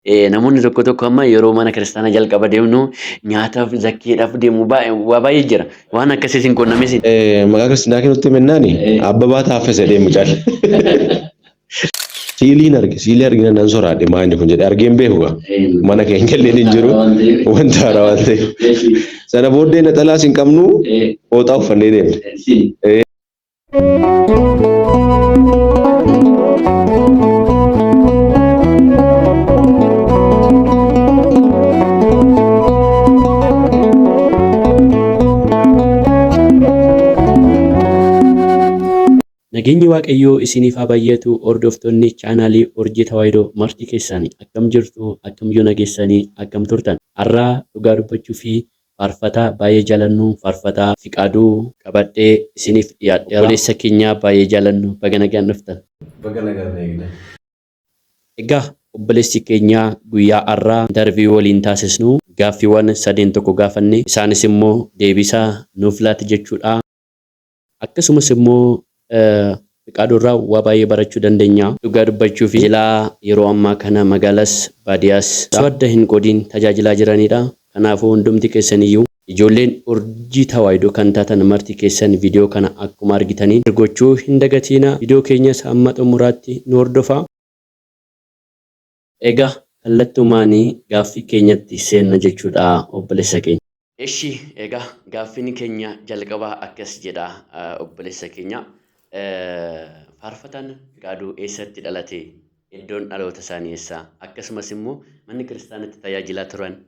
Namoonni tokko tokko amma yeroo mana kiristaanaa jalqaba deemnu nyaataaf zakkeedhaaf deemu waa baay'ee jira. Waan akkasiis hin qunnamis. Maqaa kiristaanaa kennutti mennaani abbabaa taaffese deemu cal. Siiliin arge siilii argina nan soraadhe maa inni kun jedhe argeen beeku gaa mana keenya illee hin jiru wanta haaraa waan ta'eef sana booddee naxalaas hin qabnu hooxaa uffannee deemne. Nageenyi Waaqayyoo isiniif haa baay'atu hordoftoonni chaanaalii Urjii Tawaahidoo marti keessani akkam jirtu akkam yoo nageessanii akkam turtan har'aa dhugaa dubbachuu fi Faarfataa baay'ee jaalannu Faarfataa Fiqaaduu qabadhee isiniif dhiyaadheera. Obboleessa keenyaa baay'ee jaalannu baga nagaan dhuftan. Baga nagaan na eegdan. Egaa obboleessi keenya guyyaa har'aa interview waliin taasisnu gaaffiiwwan sadeen tokko gaafanne isaanis immoo deebiisaa nuuf laati jechuudha. Akkasumas immoo Fiqaaduu irraa waa baay'ee barachuu dandenya. Dhugaa dubbachuuf tajaajilaa yeroo ammaa kana magaalas baadiyaas osoo adda hin qoodiin tajaajilaa jiraniidha. Kanaafuu hundumti keessaniyyuu ijoolleen urjii tawaahidoo kan taatan marti keessan video kana akkuma argitaniin share gochuu hin dagatiina. Video keenyas hamma xumuraatti nu hordofaa. Ega kallattumaani gaaffii keenyatti seenna jechuudha obbolessa keenya. Eshi ega gaaffiin keenya jalqabaa akkas jedha obbolessa keenya faarfataan gaaduu eessatti dhalate iddoon dhaloota isaanii eessa akkasumas immoo manni kiristaanatti tajaajilaa turan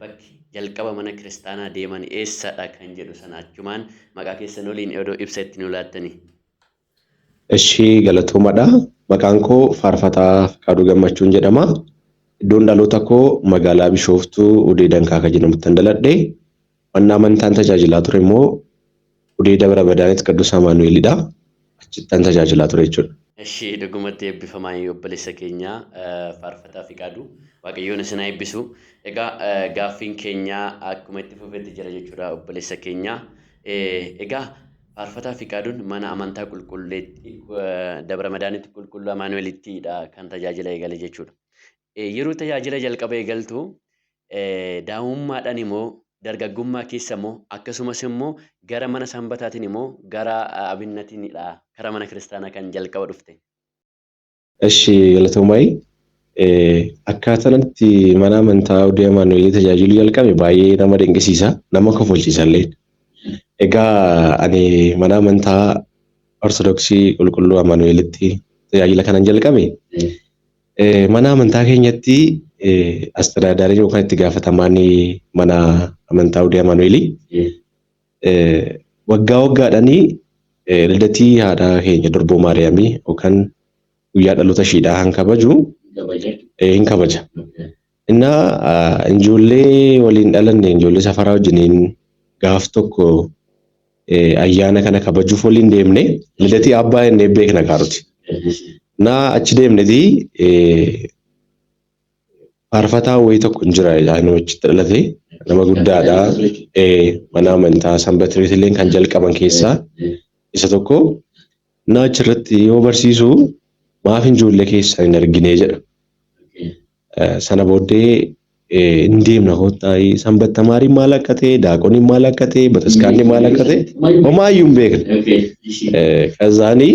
bakki jalqaba mana kiristaanaa deeman eessadha kan jedhu sana achumaan maqaa keessan waliin odoo ibsa itti nu laattanii. Eshi galatoomadha maqaan koo faarfataa Fiqaaduu Gammachuun jedhama. Iddoon dhaloota koo magaalaa Bishooftuu Udee Dankaaka jedhamuttan daladhe. Manna amantaan tajaajilaa ture immoo Udee Dabra Badaanit Qaddus Amaanu'eelidha. Achittan tajaajilaa ture jechuudha. Eshi dhugumatti eebbifamaa obboleessa keenya faarfataa Fiqaaduu. Waaqayyoon isin haa eebbisu. Egaa gaaffiin keenya akkuma itti fufetti jira jechuudha obboleessa keenya. Egaa Faarfataa Fiqaaduun mana amantaa qulqulleetti Dabra Madaanitti qulqulluu Amaanu'elittidha kan tajaajila eegale jechuudha. Yeroo tajaajila jalqaba eegaltu daa'imummaadhaan immoo dargaggummaa keessa immoo akkasumas immoo gara mana sanbataatiin immoo gara abinnatinidha kara mana kiristaanaa kan jalqaba dhufte. Eshi galatoomai akkaataan itti mana amantaa Odee Amaanu'eelii tajaajiluu jalqabe baay'ee nama dinqisiisa nama kofalchiisallee. Egaa ani mana amantaa Ortodoksii Qulqulluu Amaanu'eelitti tajaajila kanan jalqabe eh, mana amantaa keenyatti eh, astadaadaariin yookaan itti gaafatamaan mana amantaa Odee Amaanu'eelii Waggaa waggaadhani ldatii haadha keenya durboo maariyaamii yookaan guyyaa dhaloota ishiidhaa kan kabaju hin kabaja. Innaa injoollee waliin dhalanne injoollee safaraa wajjiniin gaaf tokko ayyaana kana kabajuuf waliin deemne lidatii abbaa jennee beekna kaa nuti. Innaa achi deemnetii Faarfataa wayii tokko hin jira jedhaa nama achitti dhalate nama guddaadha mana amantaa sanbatiriitillee kan jalqaban keessaa isa tokko innaa achirratti yoo barsiisu maaf ijoollee keessan hin argine jedha. Sana booddee hin deemna kottaa sanbattamaariin maal akka ta'e daaqoniin maal akka ta'e bataskaanni maal akka ta'e homaayyuu hin beekne. Kazaanii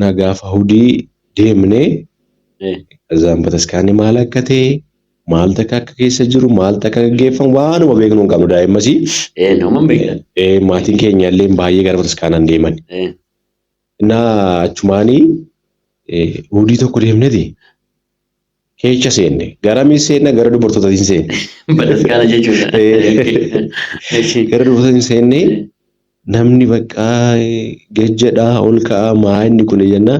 Na gaafa hudii deemne Eh. kazaan bataskaanni maal akka ta'e maal takka akka keessa jiru maal takka gaggeeffamu waanuma beeknu hin qabnu daa'immasii. Eh, nama hin beekne. Eh, maatiin keenya illee baay'ee gara bataskaanaan deeman. Eh. Innaa achumaanii eh, hudii tokko deemneti. keecha seenne garamiin seenna gara dubartootatiin seenne. Bataskaana jechuudha. Gara dubartootatiin seenne namni baqqaa gajjadhaa ol ka'aa maa inni kun jenna.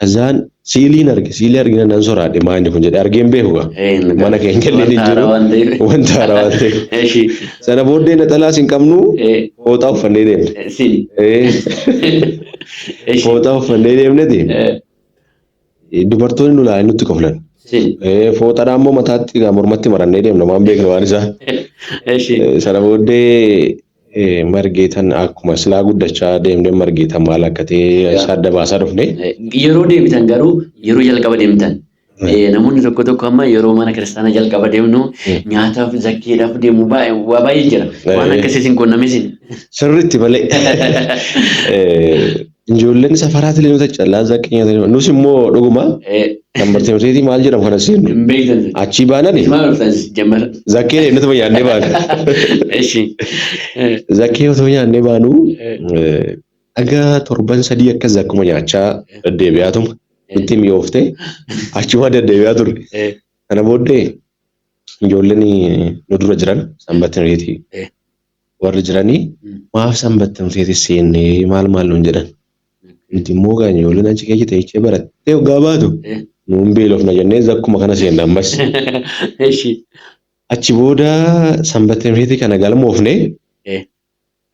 Azaan siiliin arge siilii argina nan soraadhe maa inni kun jedhe argeen beeku gaa. Mana keenya illee ni jiru wanta haaraa waan ta'eef. Sana booddee naxalaas hin qabnu fooxaa uffannee deemne. Fooxaa uffannee deemneti. Dubartoonni nu ilaalanii nutti koflan. Si. Eh, Fooxadhaa immoo mataatti egaa mormatti marannee deemna waan beeknu waan isaa. Eshi. Eh, Sana booddee eh, margeetan akkuma silaa guddachaa deemnee margeetan maal akka ta'e isa adda baasaa dhufne. Eh, Yeroo deebitan garuu yeroo jalqaba deemtan. Eh, Namoonni tokko tokko amma yeroo mana kiristaanaa jalqaba deemnu nyaataaf zakkeedhaaf deemu baay'ee waa baay'ee jira. Waan Eh. akkasii isin quunnamesin. Sirriitti malee. Eh, Ijoolleen safaraa tiliinota callaa zaqqii nyaatanii nus immoo dhuguma kan barteemuteetii maal jedhamu kana seennu Hin beektan. achii baanani Maal dhuftan jammar? zakkee deemnatuma nyaannee baana. Eshi. Zakkee otoo nyaannee baanu dhaga torban sadii akka zakkuma nyaachaa deddeebi'aatuma itti mi'oofte achuma deddeebi'aa turre. Kana booddee ijoolleen nu dura jiran sanbattinureetii Eh. warri jirani maaf sanbattan seeti seenne maal maal nuun jedhan nuti immoo gaanya ijoolleen achi keessa teechee barattee hoggaa baatu nuun beelofna jennee zakkuma kana seenne ammas achi booda sanbattan seeti kana galmoofne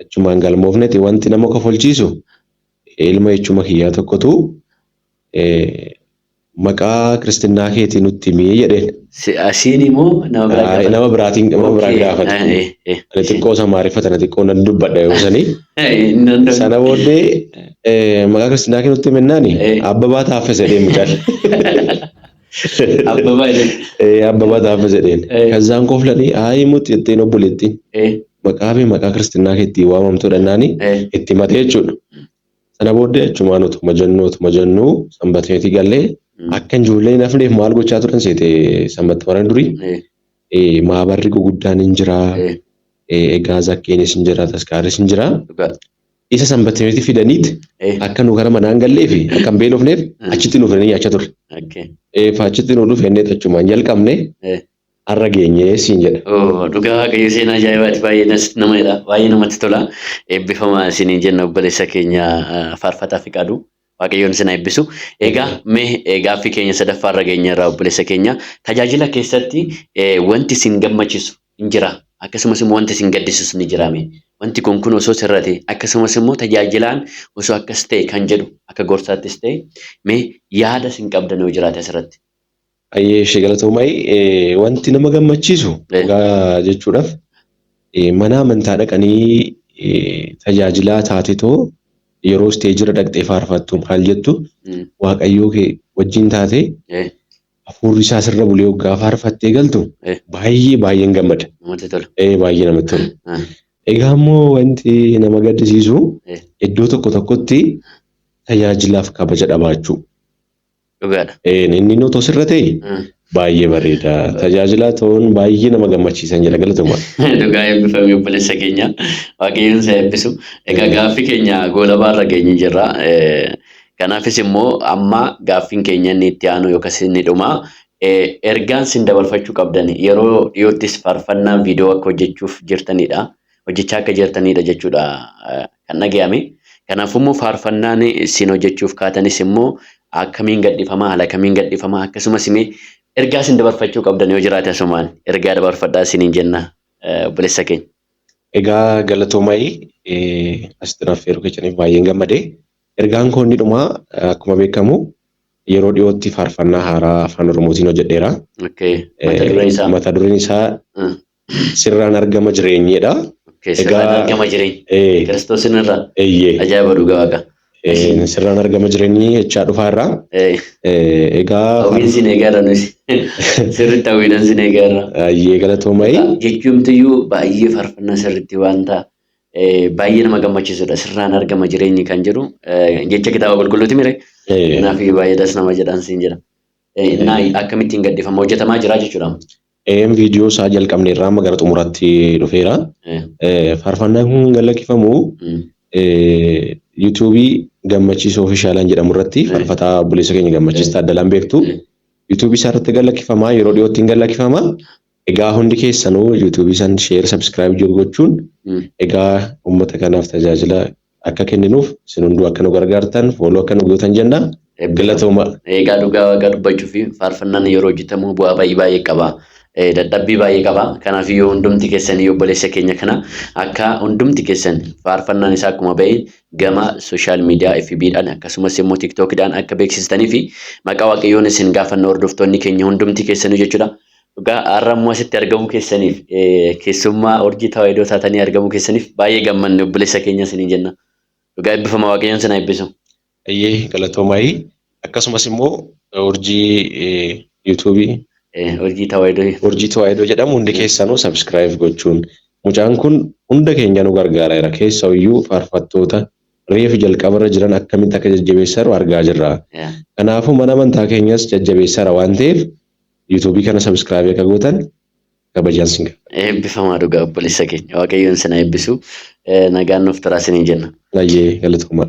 achumaan galmoofneti wanti nama kofolchiisu Ilma echuma kiyyaa tokkotu maqaa kiristinnaa keetii nutti himi jedheen. Si- ah, Siinii moo nama biraa Ayi, gaafate? Nama biraatiin nama biraa Okay. gaafate. Ah, eh, eh, Ani isin- xiqqoo isa maariffa tana xiqqoo nan dubbadha yoo sanii. Eh, hin danda'u. Sana booddee eh, maqaa kiristinnaa kee nutti himi jennaani Eh. abbabaa taaffe jedhee mucaan. Abbabaa jedhe. Eh, Abbabaa Taaffa jedheen. Eh. Kazzaan koflanii aayii mutti jetteen obboleettiin. Eh, Maqaa fi maqaa kiristinnaa kee ittiin waamamtu dhannaan eh, itti matee jechuudha. Sana booddee achumaan utuma jennuu utuma jennuu sanbatmeetii gallee mm, akka ijoollee hin hafneef maal gochaa turan seete sanbatta warreen durii eh, eh, maabarri guguddaan hin jira eh, eh, egaa zakkeenis hin jira taskaaris hin jira dhugaa. Isa sanbatimitti fidaniit Eh. akka nu gara manaan gallee fi akka hin beelofneef Eh. achitti nu fidanii nyaachaa turre. Okay. Eh, fa achitti nu dhufe inni achumaan jalqabne Eh. har'a geenye siin jedha. Oo, dhugaa waaqayyo seenaa ajaa'ibaati baay'ee nas nama jedha baay'ee namatti tola eebbifamaa isiniin jenna obboleessa keenya ah, faarfataa fiqaadu Waaqayyoon isin eebbisu. Egaa mee gaaffii keenya sadaffaa irra geenye irraa obboleessa keenya tajaajila keessatti wanti isin gammachiisu hin jira akkasumas immoo wanti isin gaddisiisu ni jira mee wanti kun kun osoo sirra ta'e akkasumas immoo tajaajilaan osoo akkas ta'e kan jedhu akka gorsaattis ta'e mee yaada isin qabdan yoo jiraate asirratti. Hayyee ishee galatoomayi. Wanti nama gammachiisu dhugaa jechuudhaaf mana amantaa dhaqanii tajaajilaa taatetoo yeroo isteejirra dhaqxee faarfattu maal jettu waaqayyoo kee wajjin taatee hafuurri isaa sirra bulee hoggaa faarfattee galtu baay'ee baay'een gammada. Namatti tola. Ee baay'ee namatti tola. Egaa immoo wanti nama gaddisiisu iddoo tokko tokkotti tajaajilaaf kabaja dhabaachuu. Dhugaadha. Een, inni nuti osirra ta'e Mm. baay'ee bareeda. Tajaajilaa ta'uun baay'ee nama gammachiisan jedha galatoomaa. Dhugaa eebbifame obboleessa keenya waaqayyoon si eebbisu. Egaa gaaffii keenya goolabaa irra geenye jirra. Eh, Kanaafis immoo amma gaaffiin keenya inni itti aanu yookas inni dhuma. Eh, Ergaan sin dabarfachuu qabdan yeroo dhiyoottis faarfannaa viidiyoo akka hojjechuuf jirtanidha. hojjechaa akka jirtaniidha jechuudha kan dhaga'ame. Kanaafuu immoo faarfannaan isin hojjechuuf kaatanis immoo akkamiin gadhifamaa haala kamiin gadhifamaa akkasumas immoo ergaa isin dabarfachuu qabdan yoo jiraate asumaan ergaa dabarfadhaa isiniin jenna obboleessa keenya. Egaa galatoomayi asitti naaf feeruu keessaniif baay'een gammade. Ergaan koo inni dhumaa akkuma beekamu yeroo dhiyootti faarfannaa haaraa afaan Oromootiin hojjedheera. Mata dureen isaa. Mata dureen isaa sirraan argama jireenyedha. Okay, Egaa- sirraan argama jireenya. Ee, Kiristoos irra eeyyee. ajaa'iba dhugaa waaqa. Ee, Sirraan argama jireenyi jechaa dhufaa irraa. Ee, Ee, Egaa Hawwiin sin eegaarra nuti. Sirriitti hawwiidhaan sin eegaarra. baay'ee galatoomai. Jechuumtiyyuu baay'ee faarfannaa sirriitti wanta eh, baay'ee nama gammachiisudha. Sirraan argama jireenyi kan jedhu eh, jecha kitaaba qulqulluuti mire. Ee, Kanaaf baay'ee das nama jedhaan siin jedha. Eh, Innaa akkamittiin gadhiifama hojjetamaa jira jechuudha. Eeyyeen viidiyoo isaa jalqabne irraa amma gara xumuraatti dhufeera. Faarfannaan kun kan lakkifamu yuutuubii gammachiisa ofishaalaan jedhamu irratti faarfataa obboleessa keenya gammachiis taaddalaan beektu yuutuubii isaa irratti kan lakkifamaa yeroo dhiyootti hin gallakifama. Egaa hundi keessanuu yuutuubii isaan sheer sabskiraayib jiru gochuun egaa uummata kanaaf tajaajila akka kenninuuf isin hunduu akka nu gargaartan fooloo akka nu gootan jenna. Galatooma. Egaa dhugaa waaqaa dubbachuuf faarfannaan yeroo hojjetamu bu'aa baay'ee baay'ee qaba. Dadhabbii baay'ee qaba. Kanaaf yoo hundumti keessan yoo obboleessa keenya kana akka hundumti keessan faarfannaan isaa akkuma ba'e gama sooshaal miidiyaa FB dhaan akkasumas immoo TikTok dhaan akka beeksistanii fi maqaa waaqayyoon isin gaafanna hordoftoonni keenya hundumti keessanuu jechuudha. Dhugaa har'a immoo asitti argamuu keessaniif keessummaa urjii tawaayidoo taatanii argamuu keessaniif baay'ee gammanne obboleessa keenya isiniin jenna. Dhugaa eebbifama waaqayyoon isin haa eebbisu. Ayyee galatoomaayii akkasumas immoo urjii yuutuubii Urjii tawaayidoo. urjii tawaayidoo jedhamu hundi keessanuu sabiskiraayib gochuun mucaan kun hunda keenya nu gargaareera keessa iyyuu faarfattoota reefu jalqabarra jiran akkamitti akka jajjabeessaru argaa jirra. Kanaafuu mana amantaa keenyas jajjabeessaara waan ta'eef YouTube kana subscribe akka gootan kabajaan sin gaafadha. Eebbifamaa dhugaa obboleessa keenya. Waaqayyoon sin haa eebbisu. Eh, Nagaan nuuf turaa siniin jenna. Baay'ee galatoomaa.